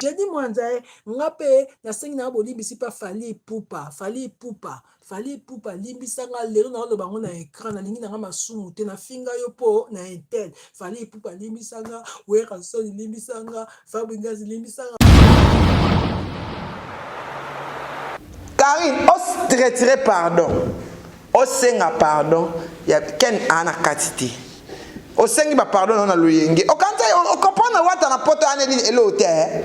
Jenny Mwanza eh, nga pe nasengi na bolimbisi pa Fally Ipupa, Fally Ipupa, Fally Ipupa limbisa nga lelo na oloba ngo na écran na lingi na nga masumu te na finga yo po na intel. Fally Ipupa limbisa nga, Werra Soni limbisa nga, Fabri Ngazi limbisa nga. Karine, os retire pardon. Osenga pardon ya Ken a na kati te. Osengi ba pardon na na loyenge. Okanza o comprendre wata na poto ane li elo te. Eh?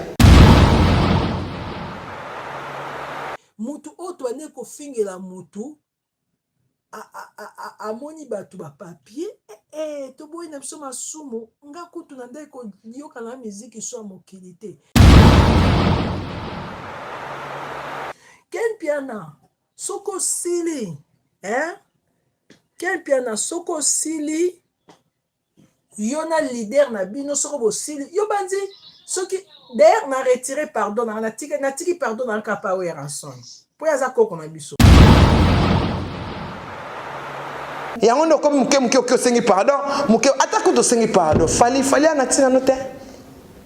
Mutu oyo toane kofingela mutu amoni bato ba papier ee eh, eh, toboyi na biso masumu nga kutu na ndai koyoka na miziki swa mokili te ken piana soki osili eh? kempiana soki osili yo na leader na bino soko bosili yo banzi soki d'ailleurs na retire pardon nanga natiki, natiki pardon nanga kapa oyo ya ranson mpo ye aza koko na biso yango nde okomi moke moke oki osengi pardon moke ata kutu osengi pardon fali fali anatinano te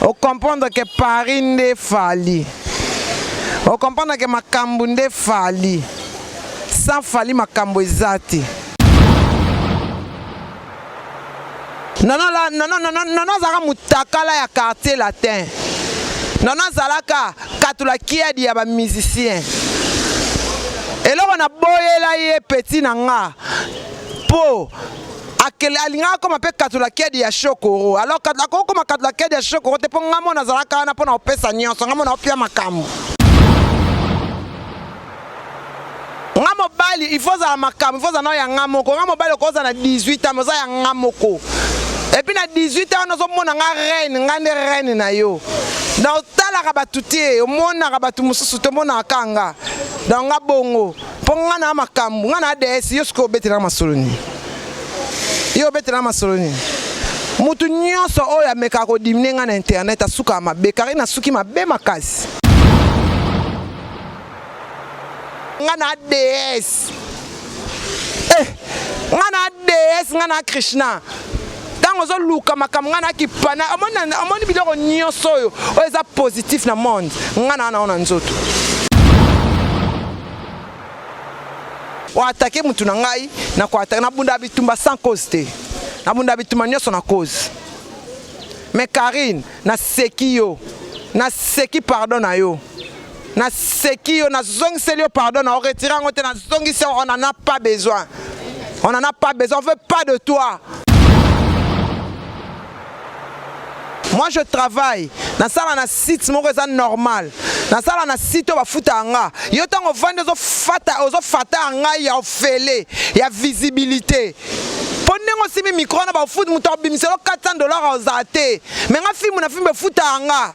o comprendre que Paris nde Fally o comprendre que makambo nde Fally sans Fally makambo eza te nono la nono nono nono azalaka mutakala ya quartier latin nono azalaka katula kiadi ya ba musicien eloko na boyela ye petit na nga po akele alingaka akoma mpe katula kedi ya shokoro alors akoki koma katula kedi ya shokoro te mpo ngai mona azalaka wana mpo na kopesa nyonso ngai mona opia makambo nga mobali il faut ozala makambo il faut ozala nao ya nga moko nga mobali okoza na 18 ans oza ya nga moko epuis na 18 ans wana ozomona nga reine nga nde reine na yo donc otalaka bato te omonaka bato mosusu te omonaka kanga donc nga bongo mpo ngai na makambo ngai na ads yo sikoyo obetela masolo nini yo obetela masolo nini motu nyonso oyo amekaka kodimine ngai na internet asukaka mabe karine asuki mabe makasi ngai na ads eh, ngai na ads ngai na krishna ntango ozoluka makambo ngai na kipana omoni biloko nyonso oyo oyo eza positif na monde ngai na yango na nzoto oatake motu na ngai na koatake nabunda bitumba sans cause te nabunda bitumba nyonso na cause mais karine naseki yo naseki pardon na yo Na seki yo, na zongiseli yo pardon, na retire yango te, na zongisi on en a pas besoin. On en a pas besoin, on veut pas de toi. Moi je travaille, na sala na site moko eza normal. Na sala na site oyo bafuta nga. Yo tango vandi ozo fata, ozo fata nga ya ofele, ya visibilité. mpo ndenge osimi mikro na bafuti moto akobimiselo 400 dollar ozala te me nga fimbu na fimbu efutaka nga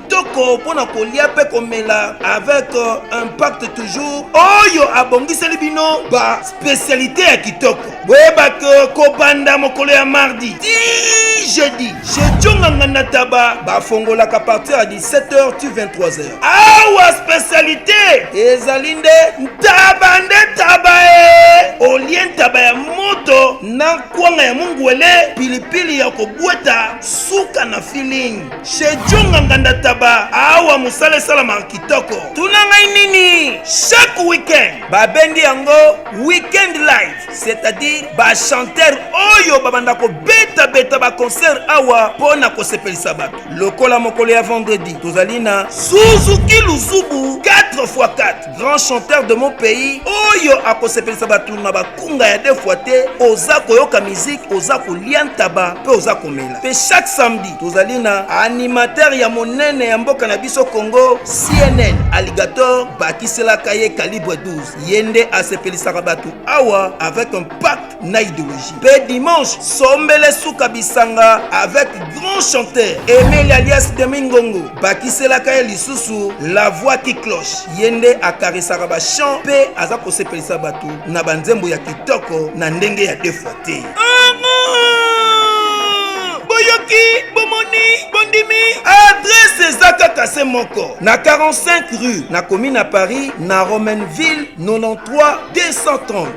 kitoko mpo na kolia mpe komela avec euh, impact toujours oyo abongiseli bino ba spécialité ya kitoko boyeba ke kobanda mokolo ya mardi ti jeudi jejonga nganda taba bafongolaka partir ya 17h ti 23h awa spécialité ezali nde ntaba nde taba e olie ntaba ya moto na nkwanga ya mungwele pilipili ya kobweta suka na feeling Chez Djonga Nganda Taba awa musala esalama kitoko. Tuna ngai nini? Chaque week-end babendi yango week-end live, c'est-à-dire ba chanteurs oyo babanda kobeta beta ba concert awa mpo na kosepelisa bato. Lokola mokolo ya vendredi tozali na Suzuki Luzubu 4x4 grand chanteur de mon pays oyo akosepelisa bato na bakunga ya defwa te oza koyoka miziki oza kolia ntaba mpe oza komela mpe chaque samedi tozali na animateur ya monene ya mboka na biso congo cnn alligator bakiselaka ye calibre 12 ye nde asepelisaka bato awa avec un pack na idéologie mpe dimanche sombele suka bisanga avec grand chanteur emeli alias demi ngongo bakiselaka ye lisusu la voix qui cloche ye nde akarisaka bachant mpe aza kosepelisa bato na banzembo ya kitoko na ndenge ya defwa te boyoki bomoni bondimi adrese eza kaka se moko na 45 rue na commune ya paris na romainville 93 230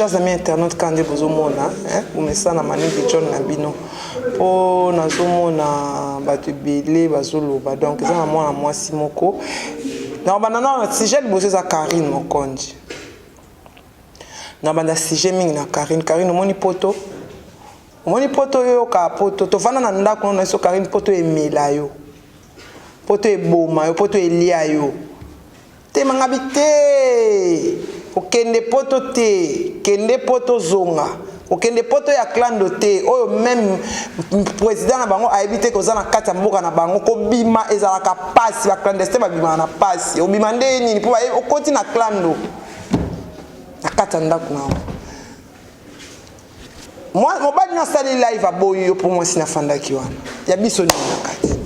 Chers amis internautes kaka nde bozomona bomesana maningi john na bino mpo nazomona bato ebele bazoloba donc eza na mwana mwasi moko na banda na sujet liboso eza karine mokonji na banda sujet mingi na karine karine omoni poto omoni poto oyoka poto tovanda na ndako no na biso karine poto emela yo poto eboma yo poto elia yo Tema ngabi te okende poto te kende poto zonga okende poto ya clando te oyo meme président na bango ayebi te koza na kati ya mboka na bango kobima ezalaka pasi ba clandestin babimaka na pasi obima nde nini mpo bayebi okoti na clando na kati ya ndako na yango mobali na asali live aboyi yo mpo mwasi nafandaki wana ya biso nini na kati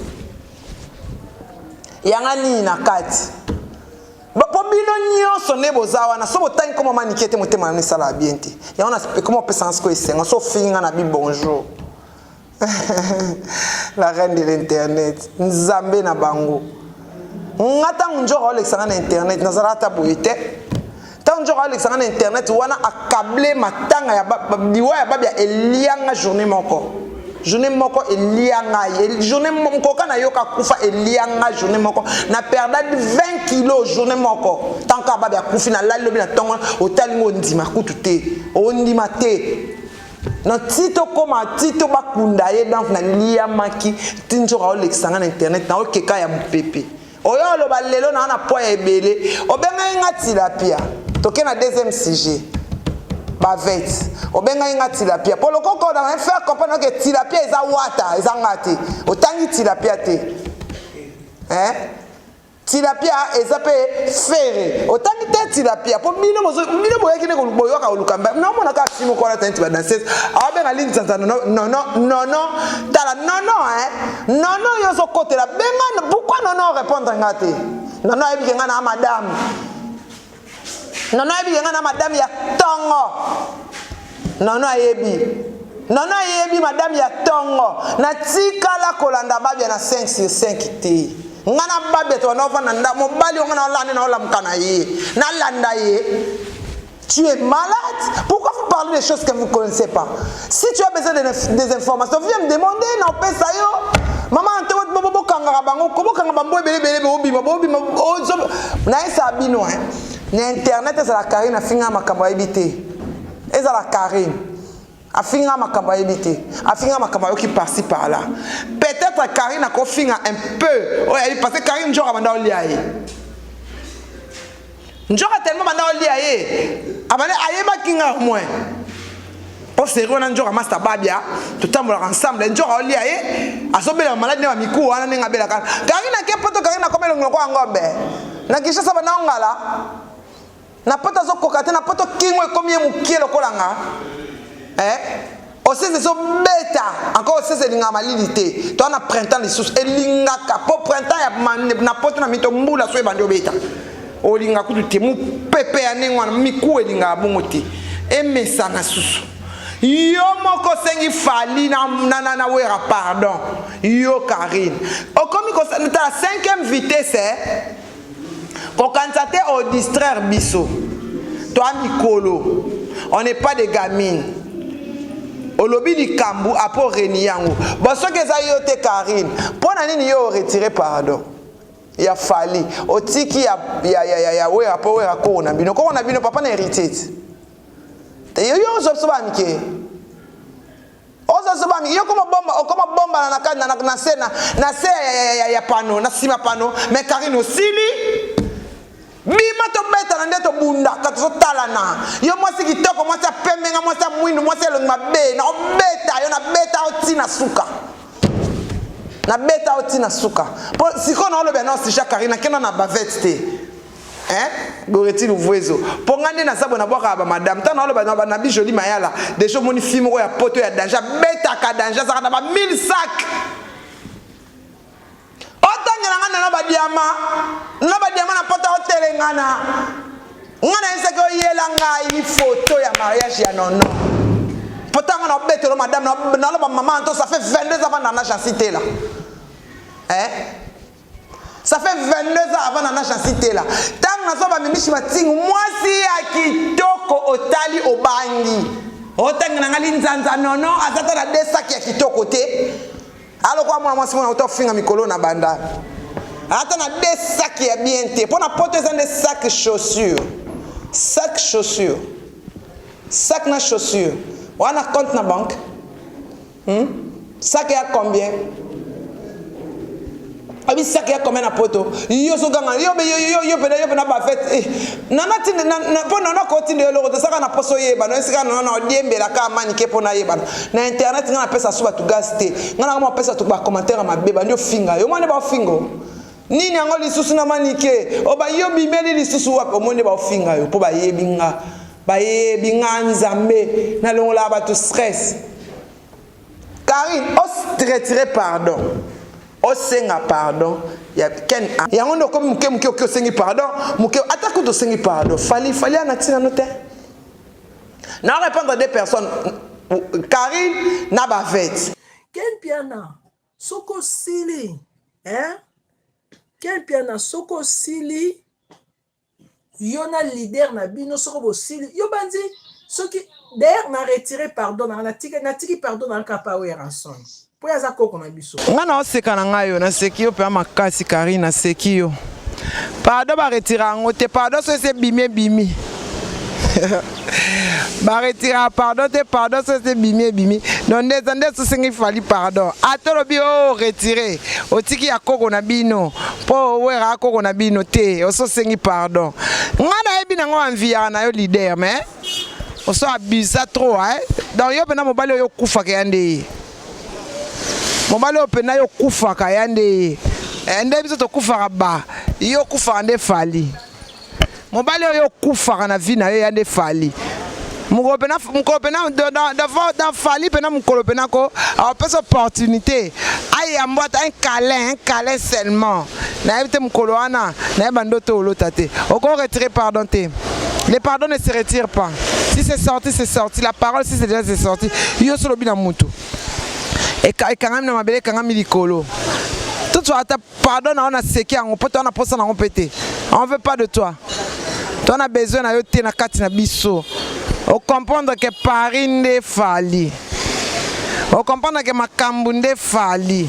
yanga nini na kati mpo bino nyonso nde boza wana so botangi koma manike te motema na misala ya bien te yango ekoma opesanga sikoyo esengo so ofingi nga na bi bonjour la reine de l'internet nzambe na bango nga ntango njoko aolekisa nga na internet nazalaka ata boye te ntango njoko aolekisa nga na internet wana akable matanga ya liwa ya babi ya elianga journée moko journée moko elia ngai journée mokoka nayoka kufa elia ngai journée moko na perda 20 kilo journée moko ntango kaka babi akufi nalali lobi na ntongo otali ngo ondima kutu te ondima te na ti tokóma ti to bakunda ye donc naliyamaki ti nzoka olekisa ngai na internet na okeka ya mopepe oyo oloba lelo naa na poi ya ebele obengaki ngai tilapia toke na deuxième sujet bavete obengaki ngai tilapia mpo lokoko na ngai faire comprendre ke tilapia eza wata eza ngai te otangi tilapia te eh? tilapia eza mpe fere otangi te tilapia mpo bino bino boyaki nde boyoka koluka mba naomona kaka si moko alata neti badansese aobenga lini sanza nono nono tala nono e nono yo ozokotela benga pourkui nono orépondre nga te nono ayebike nga na madame Nono ayebi yenga na madame ya tongo. Nono ayebi. Nono ayebi madame ya tongo. Na tika la kolanda babia na 5 sur 5 te. Nga na babia to na vanda nda mobali nga na olande na olamka na ye. Na landa ye. Tu es malade? Pourquoi vous parlez des choses que vous ne connaissez pas? Si tu as besoin de, des informations, viens me demander, non, paie ça yo. Maman, tu vois, bobo, bobo, kangara, bango, kobo, kangara, bango, bébé, bébé, bobi, bobi, bobi, ozo. Nae, ça a bino, hein. Na internet, ça la carine, a finga, ma kambo, habité. Et ça la carine. A finga, ma kambo, habité. A finga, ma kambo, qui par-ci, par-là. Peut-être, carine, a ko finga un peu. Oh, parce que carine, genre, a mandao liaïe. Njoka tellement banda olia ye abale ayebaki nga au moins o seri wana njoka masta babia totambolaka ensemble njoka olia ye azobelaka maladi na bamikuwa wana ndenge abelaka kari na ke poto kari na kobela ngoloko ya ngombe na kinshasa banda ongala na poto azokoka te na poto kingo ekomi ye mokie lokola nga eh? osese ezobeta encore osese elingaka malili te toa na printemps lisusu elingaka mpo printemps ya na poto na mito mbula so ebandi obeta olinga kutu te mopepe ya ndenge wana miku elingaka bongo te emesana susu yo moko osengi fali na, na, na, na wera pardon yo karine okomi kosala 5e vitesse eh? kokanisa te o distraire biso toa mikolo on n'est pas de gamine olobi likambo apres oreni yango bon soki eza yo te karine mpo na nini yo oretire pardon ya fali otiki ya, ya, ya, ya, ya wera mpo wera koo na bino koo na bino papa na héritier te yo yo ozwa biso bamike oza zoba yo koma bomba okoma bomba na na na na se na na se ya ya ya ya pano na sima pano mais Karine osili bima tobetana nde tobundaka tozotalana yo mwasi kitoko mwasi ya pembe nga mwasi ya mwindu mwasi elongi mabe na obeta yo na beta yo ti na suka na beta yo ti na suka mpo sikoyo naoloba na osija karina kenda na bavete te Hein? Goretti Luvuezo. Mpo nga nde naza bona bwaka ba madame. Tana oloba na bana bi jolie mayala. Déjà omoni fille moko ya poto ya danger betaka danger azaka na ba 1000 sacs. Otangela nga na ba diama. Na ba diama na poto otelengana. Nga na eseke oyela ngai photo ya mariage ya nono. Poto nga na obetelo madame na oloba maman to ça fait 22 ans na na chancité là. Eh? Ça fait 22 ans avant nana Jancy Tela. Tango nazo ba mimishi matingu mwasi ya kitoko otali obangi. Otangi na ngali nzanza nono azata na deux sacs ya kitoko te. Aloko amona mwasi mwana auto finga mikolo na banda. Ata na deux sacs ya bien te. Pona poto eza nde sac chaussure. Sac chaussure. Sac na chaussure. Wana compte na banque. Hum? Sac ya combien? Abi sac ya combien na poto? Yo so ganga yo yo yo yo pena yo pena ba fête. Eh, nana tinde na na po nana ko tinde yo loko saka na poso yeba na sika nana na diembe la ka mani ke pona yeba. Na internet ngana pesa suba tu gas te. Ngana ngama pesa tu ba commentaire ma beba ndio finga. Yo mane ba fingo. nini yango lisusu na manike o oh, baye obimeli lisusu wapi omoni baofinga yo mpo bayebi nga bayebi nga nzambe nalongolaka bato stress karine oretire pardon osenga pardon ya ken yango nde okomi moke moke oke osengi pardon moke ata kutu osengi pardon fali fali ana ntina no te na orépondre de personne karine na bavete ken piana soki osili eh? kempiana soki osili yo na leader na bino soko bosili yo banzi soki d'ailleurs na retire pardon nanga natiki natiki pardon nanga kapa oyo ya ranson mpo aza koko na biso nga na oseka na ngai yo naseki yo mpe makasi kari naseki yo Pardon ba retire yango te pardon soki se bimi ebimi ba retire pardon te pardon soki se bimi ebimi donc nde eza nde sosengi fali pardon ata olobi o retire otiki ya koko na bino mpo owera koko na bino te ososengi pardon ngai nayebi nango wanviyaka na yo leader mais oso abusa trop eh? donc yo mpena mobali oyo okufaka ya nde ye mobali oyo mpena yo kufaka ya nde ye eh, nde biso tokufaka ba yo kufaka nde fali mobali oyo okufaka na vie na yo ya nde fali mokolo mpena mokolo mpena da fali mpena mokolo mpena ko apesa opportunité ayamba ata un câlin un câlin seulement nayebi te mokolo wana naye bandoto olota te oko retire pardon te le pardon ne se retire pas si c'est sorti c'est sorti la parole si c'est déjà c'est sorti yo so olobi na motu ekangami na mabele ekangami likolo totswa ata pardon na yo naseki yango mpo toa na mposa na yango mpe te on veut pas de toi toa na besoin na yo te na kati na biso okomprendre ke paris nde fali okomprendre ke makambo nde fali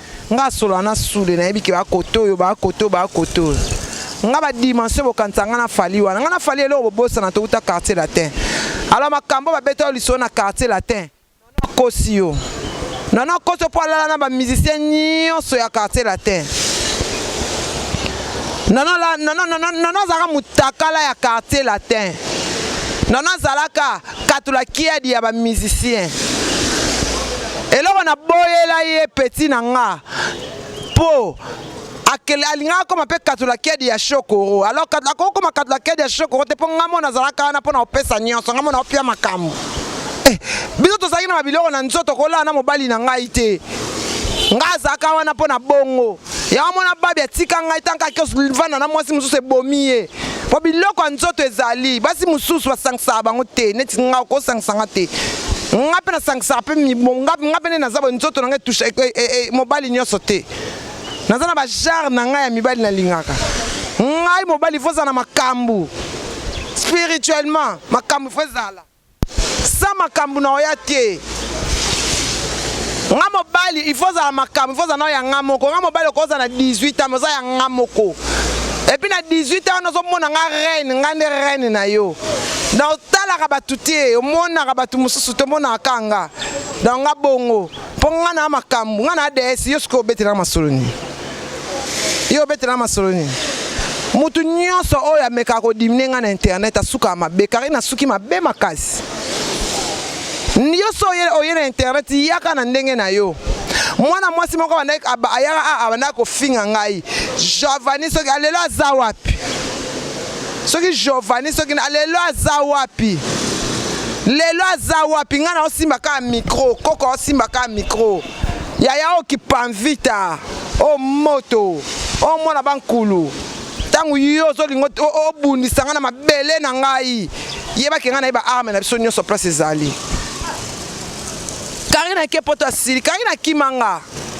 nga asola na sude nayebi ke bakoto oyo bakoto bakoto oyo nga badimension bokanisa nga na fali wana nga na fali eloko bobosana touta quartier latin alo makambo babeta yo lisolo na quartier latin akosi yo nono akosi yo mpo alala na bamusicien nyonso ya quartier latin nono azalaka motakala ya quartier latin nono azalaka katula kiadi ya ba musicien eloko na boyela ye peti na nga po akele alingaka akoma mpe katula kedi ya shokoro alors akoki koma katula kedi ya shokoro te mpo ngai mona azalaka wana mpo na kopesa nyonso ngai mona opia makambo eh, biso tozalaki na babiloko na nzoto kolala na mobali na ngai te ngai azalaka wana mpo na bongo ya mwana babi atika ngai ntango ake vanda na mwasi mosusu ebomi ye mpo biloko ya nzoto ezali basi mosusu basangisaka bango te neti ngai okosangisa nga te nga mpe nasangisaka mpe nga mpe nde naza boye nzoto na ngai etusha e, e, e, mobali nyonso te naza na bajare na ngai ya mibali nalingaka ngai mobali fo ozala na makambo spirituellement makambo fo ezala Sans makambu nao ya te. Nga mobali il faut ozala makambu, il faut ozala nao ya nga moko. Nga mobali oko ozala na 18 ans mais oza ya nga moko. Et puis na 18 ans wana ozo mona nga reine, nga nde reine na yo. Donc otalaka batu te, omonaka batu mususu te, omonaka kaka nga. Donc nga bongo. mpo ngai na makambo ngai na ads yo sikoyo obetela masolo nini yo obetela masolo nini motu nyonso oyo amekaka kodimine ngai na internet asukaka mabe karine asuki mabe makasi yo so oye na internet yaka na ndenge na yo mwana mwasi moko ayaka abandaka kofinga ngai javani soki alelo aza wapi soki Giovanni soki na lelo aza wapi lelo aza wapi ngai naosimba kaka mikro koko aosimba kaka mikro yaya okipanvita o moto o mwana bankulu ntango yo ozolinga obundisa ngai na mabele na ngai yebaki ngai na ye baarme na biso nyonso place ezali karina ke poto asili karina akima nga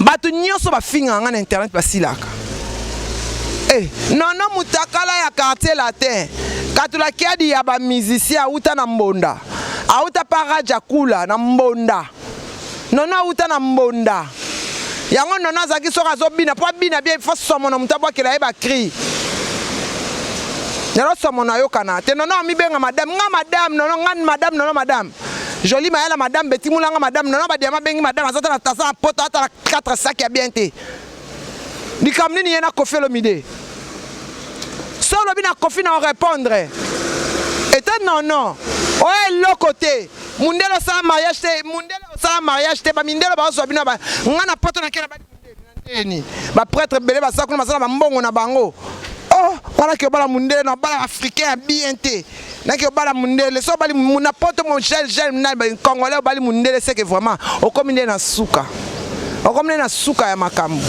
bato nyonso bafingaka ngai na internet basilaka e eh, nono mutakala ya quartier latin katula kiadi ya bamusicien awuta na mbonda awuta pa raja kula na mbonda nono awuta na mbonda yango nono azalaki soki azobina mpo abina bie fo somo na moto abwakela ye bacri lelo somo nayokana te nono amibenga madame nga madame nono nga madame nono madame Jolie Mayala madame Betty Mulanga madame Nana Badiama bengi madame azata na tasa na poto ata na 4 sac ya bien te likambo nini ye na Koffi Olomide so olobi na Koffi na orépondre ete non non oyo eloko te mundele osala mariage te mundele osala mariage te bamindele baozwa bino ngai na poto na kela Eni ba prêtre belé ba sakuna masala ba mbongo na bango. Oh, wana ke bala mundele na bala africain bien te. Na ke bala mundele so bali muna poto mon gel gel na ba congolais bali mundele c'est que vraiment okomi nde na suka. Okomi nde na suka ya makambo.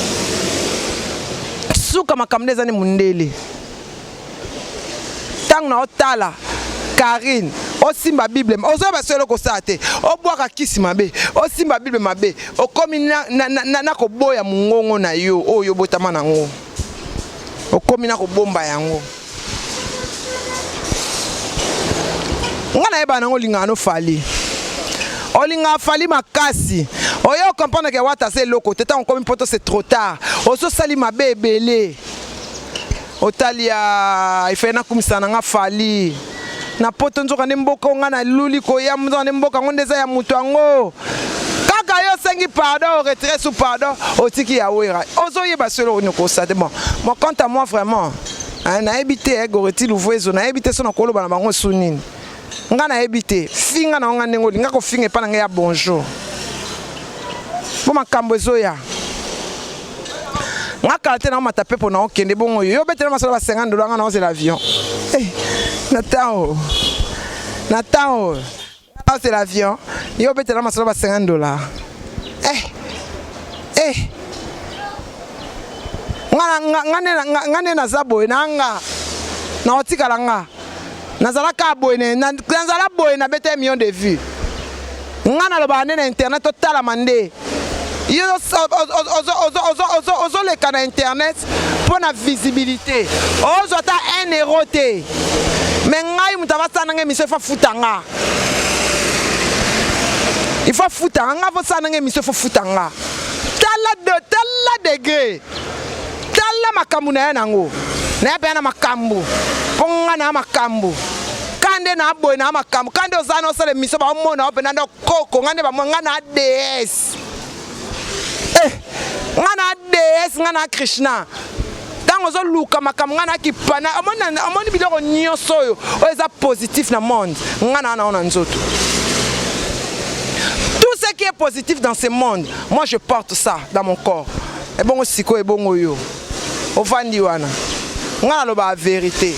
Suka makambo nde ezani mundele. ntango na otala Karine osimba bible ozoyeba solo kosala te obwaka kisi mabe osimba bible mabe okomi na, na, na, na, na koboya mongongo na yo oyo obotama na yango okomi na kobomba yango ngai nayebana yango olingaka no fali olingaka fali makasi oye okomprendre ke wata aza eloko te ntango okomi mpoto se trop tard ososali mabe ebele otali ya ifai nakumisa na nga fali na poto nzoka nde mboka onga na luli koya nzoka nde mboka yango nde eza ya moto yango kaka yo osengi pardon oretire sous pardon otiki ya wera ozoyeba solo oyo nokosa te bon bon quant à moi vraiment nayebi te eh, goreti luvuezo nayebi te so nakoloba na bango su nini nga nayebi te finga na yo nga ndenge olinga kofinga epai na ngai ya bonjour mpo makambo ezoya nga kala te naomata mpe mpo na okende bongo yo obetela masolo ba 50 dola nga naozela avion eh, na temps oyo na temps oyo naozela avion yo obetela masolo ba 50 dola eh, eh. nga nde naza boye na nga naotikala nga nazalaka boye nazala boye nabeta million de vue ngai nalobaka nde na internet totalama nde yo ozoleka na internet mpo na visibilité ozwa ata 1 euro te me ngai moto avasala nanga emission ifo afuta nga ifo afuta nga nga avosala nanga emission ifo afuta nga tala degre tala makambo na ya na yango na ya mpe ya na makambo mpo ngai na ya makambo ka nde na boye na ya makambo ka nde oza na osala emisio baomona yo mpenza nde koko ngai nde bamona ngai na ds eh, ngai na ds ngai na krishna ntango ozoluka makambo ngai na kipana omoni biloko nyonso oyo oyo eza positif na monde ngai na yango na nzoto qui est positif dans ce monde, moi je porte ça dans mon corps. ebongo sikoyo ebongo yo ovandi wana ngai nalobaka verite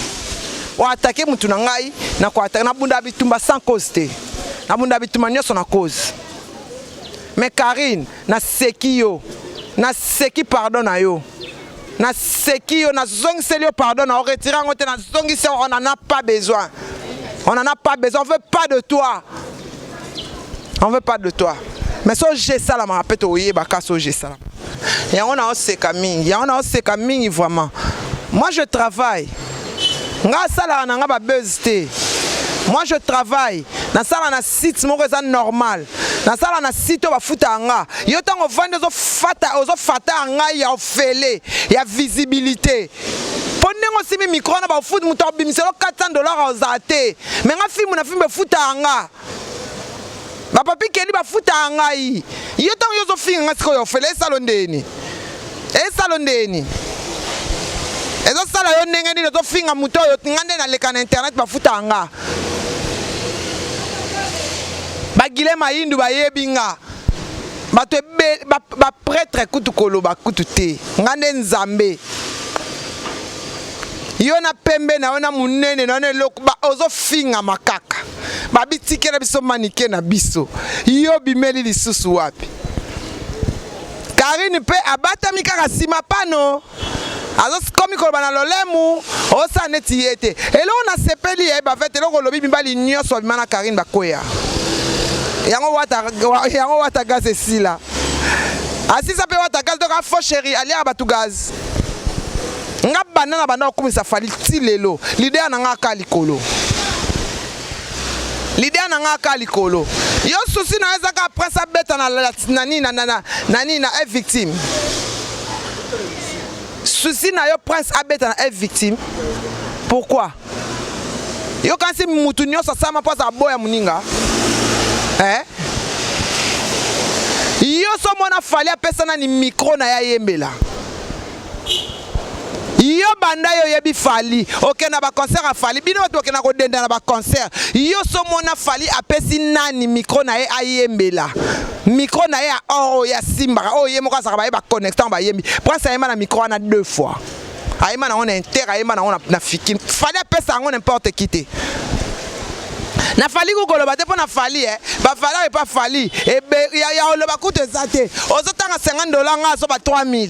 oatake motu na ngai nabunda bitumba sans cause te nabunda bitumba nyonso na cause mais karine naseki yo naseki pardon na yo naseki yo nazongiseli yo pardon na oretire yango te nazongisi on en a pas besoin on en a pas besoin on veut pas de toi on veut pas de toi mais so je esalamaka mpe toyebaka so je esalamaka yango naoseka mingi yango naoseka mingi vraiment moi je travaille nga asalaka na nga babuse te moi je travaille nasala na site moko eza normal nasala na site oyo bafutaka nga yo ntango ovandi ozofata ozofata ngai ya ofele ya visibilité po ndenge osimbi micro wana bafuti moto akobimiselo 400 dollar ozala te me nga fimbu na fimbu efutaka nga bapapi keli bafutaka ngai yo ntango yo ozofinga nga sikoyo ofele esalo ndeni esalo ndeni ezosala yo ndenge nini ozofinga moto oyo nga nde naleka na internet bafutaka nga bagile mayindu bayebi nga bato ebe bapretre ba kutu koloba kutu te nga nde nzambe yo na pembe na yo na monene na yo na eloko ozofingama kaka babitikela biso manike na biso yo bimeli lisusu wapi karine mpe abatami kaka nsima pano azokomi koloba na lolemu osala neti ye te eloko nasepeli ye bavete eloko olobi mibali nyonso babima na karine bakweya yango wata, yango wata gaz esila asisa mpe wata gaz donc afo sheri aliaka bato gaz nga banda na banda kokumisa fali ti lelo lider na nga aka likolo L'idée na nga ka likolo. Yo souci na eza ka après ça beta na na nini na na na nini na est victime. Souci na yo prince abeta na est victime. Pourquoi? Yo kasi mutu nyoso sama poza boya muninga. Eh? Yo so mona fali apesa na ni micro na ya yembela. yo banda yo yebi fali oke na ba concert ya fali bino bato bokenda kodenda na ba concert yo somona fali apesi nani micro na ye ayembela micro na ye ya or oyo asimbaka oyo ye moko azalaka baye baconnectant bayembi prince ayemba na micro wana deux fois ayemba nango na inter ayemba nango na fiki fali apesa yango n'importe qui te na fali kokoloba te mpo na fali e eh. bavaleur epa fali ya oloba kutu eza te ozotanga 50 dola nga azoba 3000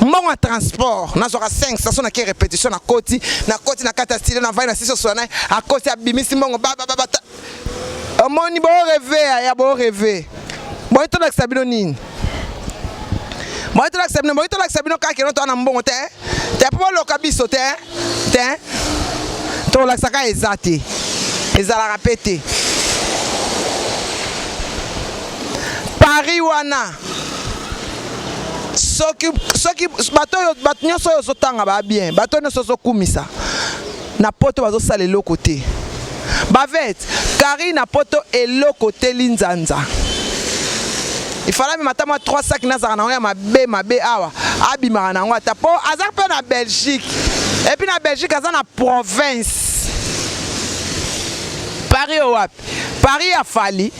mbongo ya transport nazwaka 5 saso na ke repetition na koti na koti na kati ya stilo na vai na siso sola naye akoti abimisi mbongo babababa omoni boreve ya boreve boyi tolakisa bino nini boyi tolakisa bino boyi tolakisa bino kaka keno toa na mbongo te te mpo boloka biso te te tolakisa kaka eza te ezalaka mpe te paris wana soki soki bato oyo bato nyonso oyo ozotanga ba bien bato oyo nyonso ozokumisa na poto bazosala eloko te bavete kari na poto eloko te linzanza ifalami mata mwa 3 saki nazalaka na yango ya mabe mabe awa abimaka na yango ata mpo aza mpe na belgique epuis na belgique aza na province paris oyo wapi paris ya fali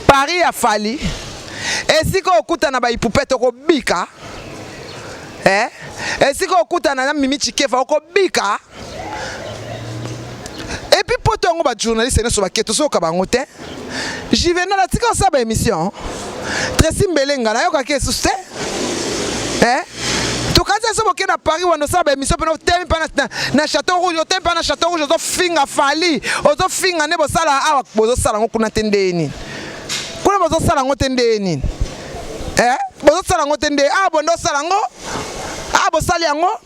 Paris ya Fally esika okutana ba ipupete okobika eh? esika okutana na Mimi Chikefa okobika epi poto yango bajournaliste nyonso bake tozoyoka bango te juvenal atika osala baémission tracy mbelenga nayokaki esusu te Quebec eh? tokanisi ya soki okenda paris wana osala baémission mpena otemi mpa na chateau rouge otemi mpa na chateau rouge ozofinga fali ozofinga nde bosala awa bozosala yango kuna te ndeye nini kuna bozosala yango te ndeye nini eh? bozosala yango te ndeye awa bonde osala yango awa bosali yango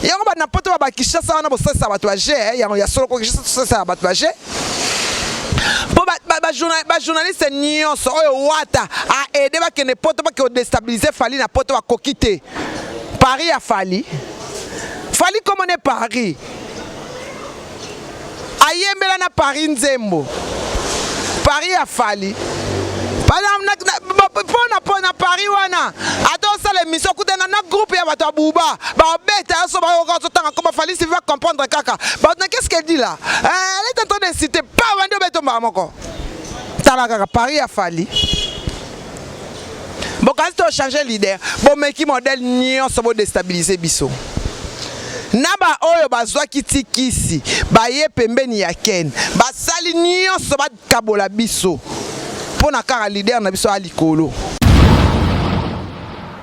yango bana poto ba bakishasa wana bosalisa bato ya je eh, yango ya solo kokishasa tosalisa bato ya je mpo bajournaliste nyonso oyo wata aede bakende poto bake kodestabilize fali na poto bakoki te paris ya fali fali komone paris ayembela na paris nzembo paris ya fali mpona mpona paris wana ata osala émission kutana na groupe ya bato ya buba babeta yaso bayoka ozotanga koma falisi va comprendre kaka bato na qu'est-ce qu'elle dit là eh, elle est en train de citer pa bandi obeta mbala moko tala kaka paris ya fali bokanisi to changer leader bomeki modèle nyonso bo destabiliser biso na baoyo bazwaki ti kisi baye pembeni ya ken basali nyonso bakabola biso mpo na kaka leader na biso ya likolo